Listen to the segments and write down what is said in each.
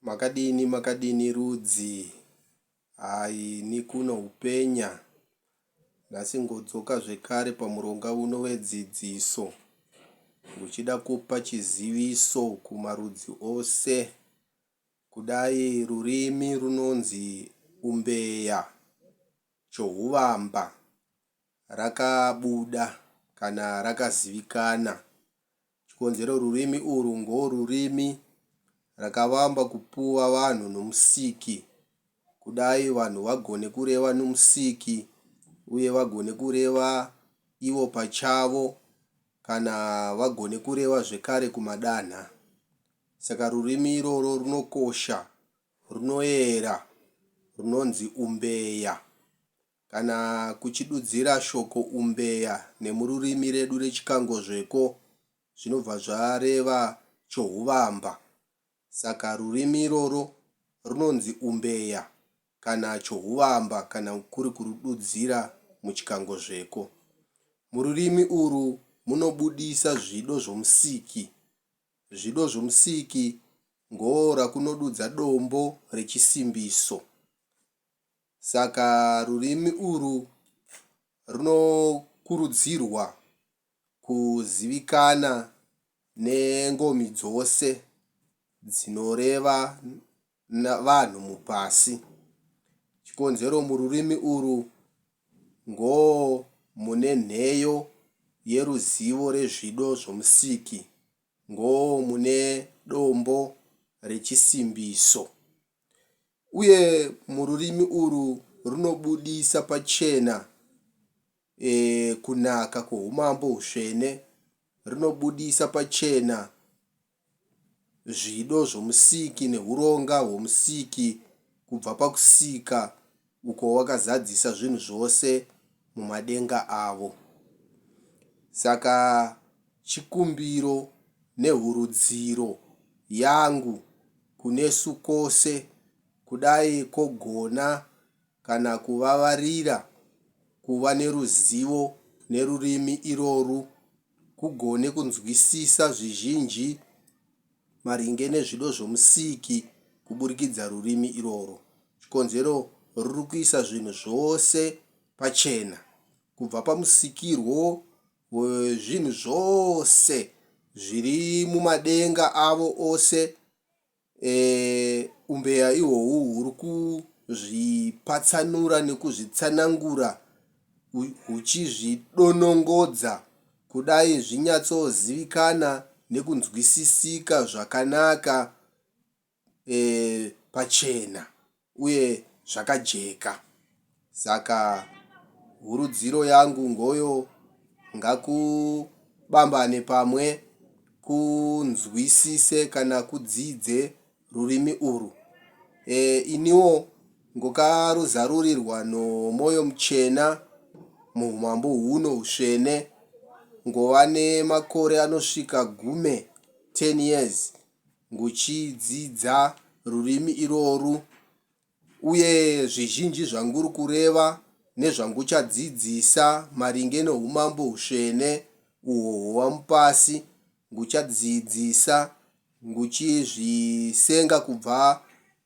Makadini makadini rudzi haa ini kuno upenya nhasi ngodzoka zvekare pamuronga uno wedzidziso ndichida kupa chiziviso kumarudzi ose kudai rurimi runonzi umbeya chohuvamba rakabuda kana rakazivikana chikonzero rurimi urwu ngorurimi rakavamba kupuwa vanhu noMusiki kudai vanhu vagone kureva noMusiki uye vagone kureva ivo pachavo kana vagone kureva zvekare kumadanha saka rurimi iroro runokosha runoera runonzi umbeya Kana kuchidudzira shoko umbeya nemururimi redu reChikangozveko zvinobva zvareva chohuvamba. Saka rurimi iroro runonzi umbeya kana chohuvamba kana kuri kurududzira muChikangozveko. Mururimi urwu munobudisa zvido zvoMusiki. Zvido zvoMusiki ngoora kunodudza dombo rechisimbiso. Saka rurimi urwu runokurudzirwa kuzivikana nengomi dzose dzinoreva vanhu mupasi. Chikonzero mururimi urwu ngo mune nheyo yeruzivo rezvido zvoMusiki, ngo mune dombo rechisimbiso. Uye mururimi urwu runobudisa pachena kunaka kwoumambo hutsvene, runobudisa pachena zvido zvoMusiki neuronga hwoMusiki kubva pakusika uko wakazadzisa zvinhu zvose mumadenga avo. Saka Chikumbiro nehurudziro yangu kunesu kose kudai kogona kana kuvavarira kuva neruzivo nerurimi iroru kugone kunzwisisa zvizhinji maringe nezvido zvoMusiki kuburikidza rurimi iroro chikonzero ruri kuisa zvinhu zvose pachena kubva pamusikirwo hwezvinhu zvose zviri mumadenga avo ose, e, umbeya ihwohwu huri kuzvipatsanura nekuzvitsanangura, huchizvidonongodza kudai zvinyatsozivikanwa nekunzwisisika zvakanaka. pachena uye zvakajeka. Saka hurudziro yangu ngoyo ngakubambane pamwe kunzwisise kana kudzidze rurimi urwu. E, iniwo ngokaruzarurirwa nomwoyo muchena muumambo huno usvene ngova nemakore anosvika gume 10 years nguchidzidza rurimi irworwu, uye zvizhinji zvanguri kureva nezvanguchadzidzisa maringe noUmambo hutsvene uhwo hwova mupasi, nguchadzidzisa nguchizvisenga kubva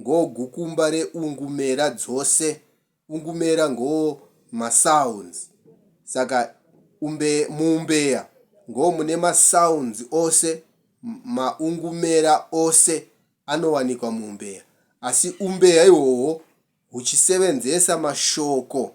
ngo gukumba re ungumera dzose. Ungumera ngo ma sounds saka umbe mu umbeya ngo mune ma sounds ose ma ungumera ose anowanikwa mu umbeya asi umbeya ihwohwo huchisevenzesa mashoko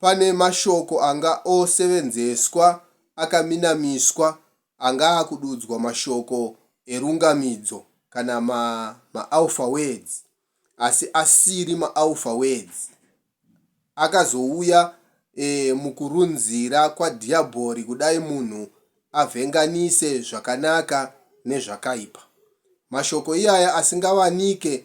Pane mashoko anga osevenzeswa akaminamiswa anga akududzwa mashoko erungamidzo kana ma maalpha words asi asiri maalpha words akazouya e mukurunzira kwaDhiyabhori kudai munhu avhenganise zvakanaka nezvakaipa. Mashoko iyaya asingawanike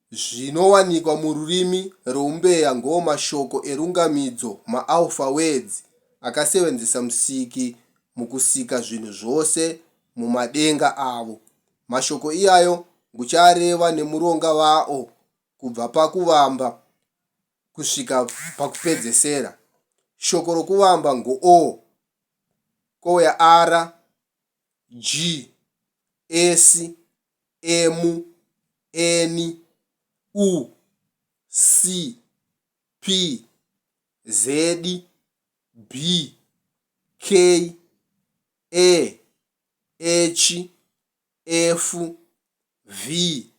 Zvinowanikwa mururimi rweUmbeya ngoo mashoko erungamidzo maAlpha Words akasevenzesa Musiki mukusika zvinhu zvose mumadenga avo. Mashoko iyayo nguchareva nemuronga vaO kubva pakuvamba kusvika pakupedzesera. Shoko rokuvamba ngoO, kouya R, G, S, emu, eni, u, si, pi, zedi, bi, kei, e, echi, efu, vi,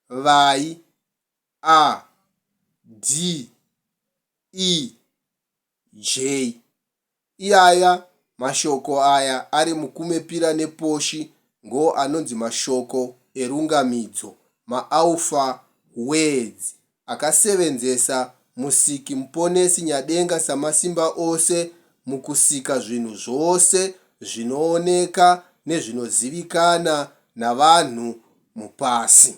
vai, a, di, i, Jay. Iyaya mashoko aya ari muKumepira nePoshi ngo anonzi mashoko erungamidzo, maAlpha words, akasevenzesa Musiki Muponesi Nyadenga Samasimba ose mukusika zvinhu zvose zvinooneka nezvinozivikana navanhu mupasi.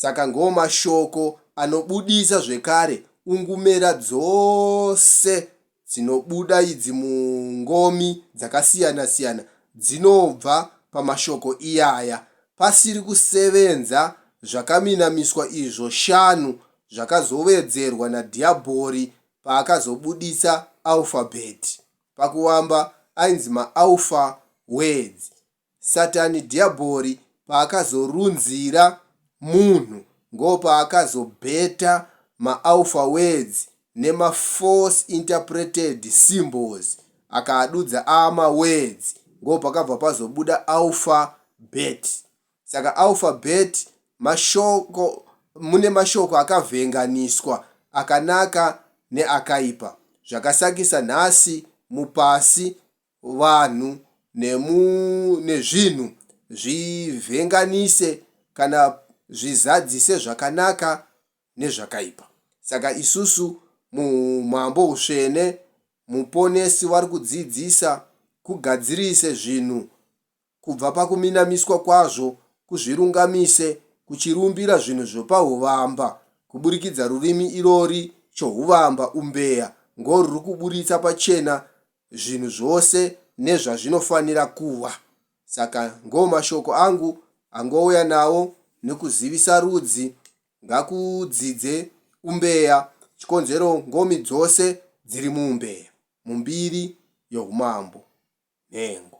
Saka ngoo mashoko anobudisa zvekare ungumera dzose dzinobuda idzi mungomi dzakasiyana siyana dzinobva pamashoko iyaya. Pasiri kusevenza zvakaminamiswa izvo shanu zvakazowedzerwa naDhiyabhori paakazobuditsa alphabet. Pakuvamba ainzi maAlpha Words. Satani Dhiyabhori paakazorunzira munhu ngopaakazobheta maAlpha Words nemaFalse Interpreted Symbols akaadudza aama Words ngopakabva pazobuda Alpha Bet. Saka Alpha Bet mashoko, mune mashoko akavhenganiswa akanaka neakaipa. Zvakasakisa nhasi mupasi vanhu nezvinhu zvivhenganise kana zvizadzise zvakanaka nezvakaipa. Saka isusu muHumambo Hutsvene, Muponesi vari kudzidzisa kugadzirise zvinhu kubva pakuminamiswa kwazvo kuzvirungamise kuchirumbira zvinhu zvopahuvamba kuburikidza rurimi irori chohuvamba, umbeya, ngo ruri kuburitsa pachena zvinhu zvose nezvazvinofanira kuva. Saka ngo mashoko angu angouya nawo nokuzivisa rudzi ngakudzidze umbeya chikonzero ngomi dzose dziri muumbeya. mumbiri yoUmambo, nhengo.